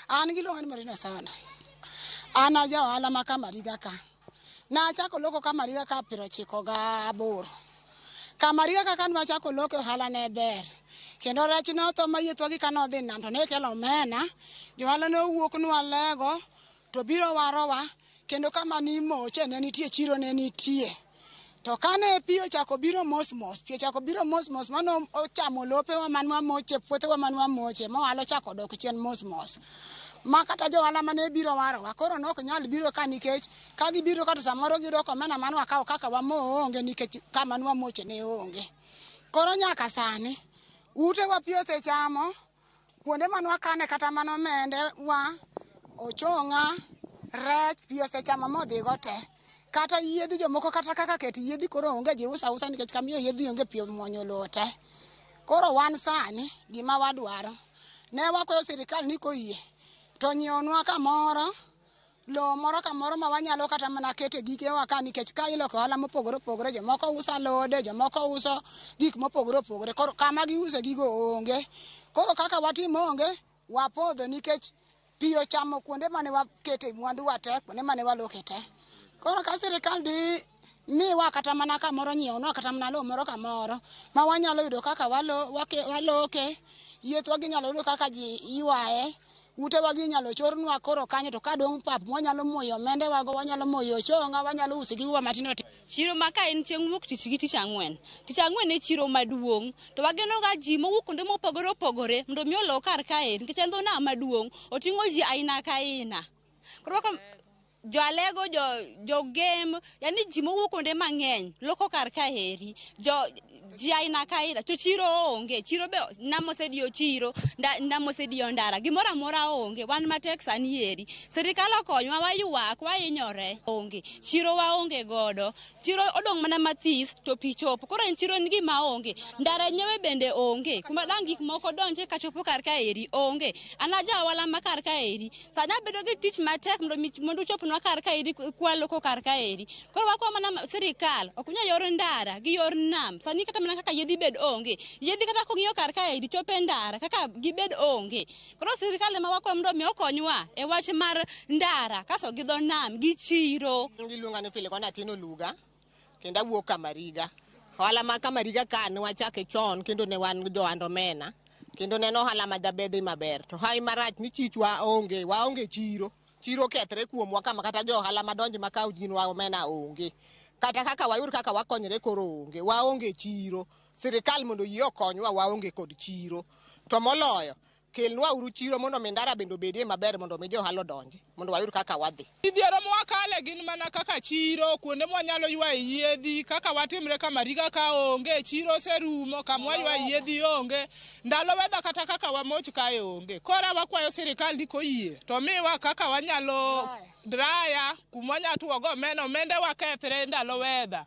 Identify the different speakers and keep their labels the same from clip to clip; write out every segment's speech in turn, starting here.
Speaker 1: An giluonga ni Marina Sona. An aja ohala ma Kamariga ka. Nachako loko Kamariga ka piero chiko ga aboro. Kamariga ka kan machako loko ohala ne ber. Kendo rech ne otho ma yie thwagi ka nodhi nam to ne ikelo omena. Johala ne owuok nwa lego. to biro warowa kendo kama ni moche ne nitie chiro ne nitie to kane pi ochako biro mos mos pi ochako biro mos mos mano ochamo lopewa man wamoche puothewa man wamoche ma ohala ochako odok chien mos mos ma kata johala mane biro warowa koro ne ok nyal biro ka nikech ka gibiro ka to samoro giyudo ka omena mane wakawo kaka wamo onge nikech kama ne wamoche ne onge koro nyaka sani utewa pi osechamo Kuonde ma nwakane kata mana omende wa, ochong'a, rech, pi osechamo modhigo te. Kata yiedhi jomoko kata kaka ket yiedhi koro onge ji uso ausa nikech kamiyo yiedhi onge pi omwonyo lowo te. Koro wan sani gima wadwaro, ne wakwayo sirikal ni koyie to nyiewonwa kamoro lowo moro ka moro ma wanyalo kata mana kete gigewa ka nikech ka iloko ohala mopogore opogore jomoko uso alode jomoko uso gik mopogore opogore koro kama giuse gigo onge koro kaka watimo onge wapodho nikech pi ochamo kuonde mane wakete mwanduwa te kuonde mane waloke te koro ka sirikal di miwa kata mana kamoro nyiewonwa kata mana lowo moro kamoro ma wanyalo yudo kaka walo- wake- waloke yiethwa ginyalo yudo kaka ji ywaye utewa gi inyalo chornwa koro kanyo to ka dong' pap mwanyalo moyo omendewago wanyalo moyo ochonga wanyalo uso gigo matindo tindo Chiro ma ka en chieng'
Speaker 2: wuok tich gi tich ang'wen. Tich ang'wen e chiro maduong'. To wageno ga ji mowuok kuonde mopogore opogore mondo mi olo kar kae nikech en dho nam maduong'. Oting'o ji aina ka aina. Koro ka jo alego jo jo game yani ji mowuok kuonde mang'eny loko kar ka heri jo ji aina ka aina to chiro onge chiro be nam osediyo chiro nda- nam osediyo ndara gimoro amora onge wan matek sani eri sirikal okonywa waywak wahinyore onge chiro waonge godo chiro odong' mana mathis to pi chopo koro en chiro en gima onge ndara nyewe bende onge kuma dang' gik moko donje kachopo kar ka eri onge an aja ohala ma kar ka eri Sani abedo gi tich matek mondo mi- mondo uchopnwa kar kaeri kwalo ko kar kaeri. Koro wakwa mana ma- sirikal ok nya yor ndara gi yor nam. Sani kata mana kaka yedhi bed onge. Yedhi kata kong'iyo kar kaeri chope ndara kaka gibed onge. Koro sirikal ema wakwa mondo mi okonywa e wach mar ndara kaso gi dho nam gi chiro. Iluonga ni Filikona
Speaker 3: Tino Luga. Kendo awuok Kamariga. Ohala ma Kamariga ka ne wachake chon kendo ne wan johand omena. Kendo ne en ohala ma jabedhi maber. To hawi marach ni chich wa onge, wa onge chiro. Chiro kethre kuomwa kama kata jo ohala madonjo ma kawo gin wa omena onge. Kata kaka wayud kaka wakonyre koro onge. Wa onge chiro. Sirikal mondo oyie okonywa wa onge kod chiro. To moloyo, Kelnwa uru chiro mondo mi ndara bende obedie maber mondo mi johala odonji mondo wayud kaka wadhi. Midhiero ma wakale
Speaker 4: gin mana kaka chiro, kuonde mwanyalo ywaye yiedhi, kaka watimre ka Mariga ka onge, chiro oserumo, kama waywaye yiedhi onge, ndalo wedha kata kaka wamoch kae onge. Kora wakwayo sirikal ni koyie to miwa kaka wanyalo draya kuma wanyalo tuwo go omena omende wakethre ndalo wedha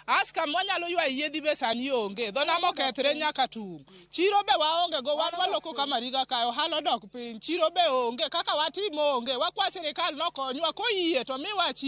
Speaker 4: as kama wanyalo ywa yiedhi be sani onge dho nam okethre nyaka tung' chiro be waonge go wan waloko ka mariga kae ohala odok piny chiro be onge kaka watimo onge wakwa sirikal nokonywa koyie to miwa chi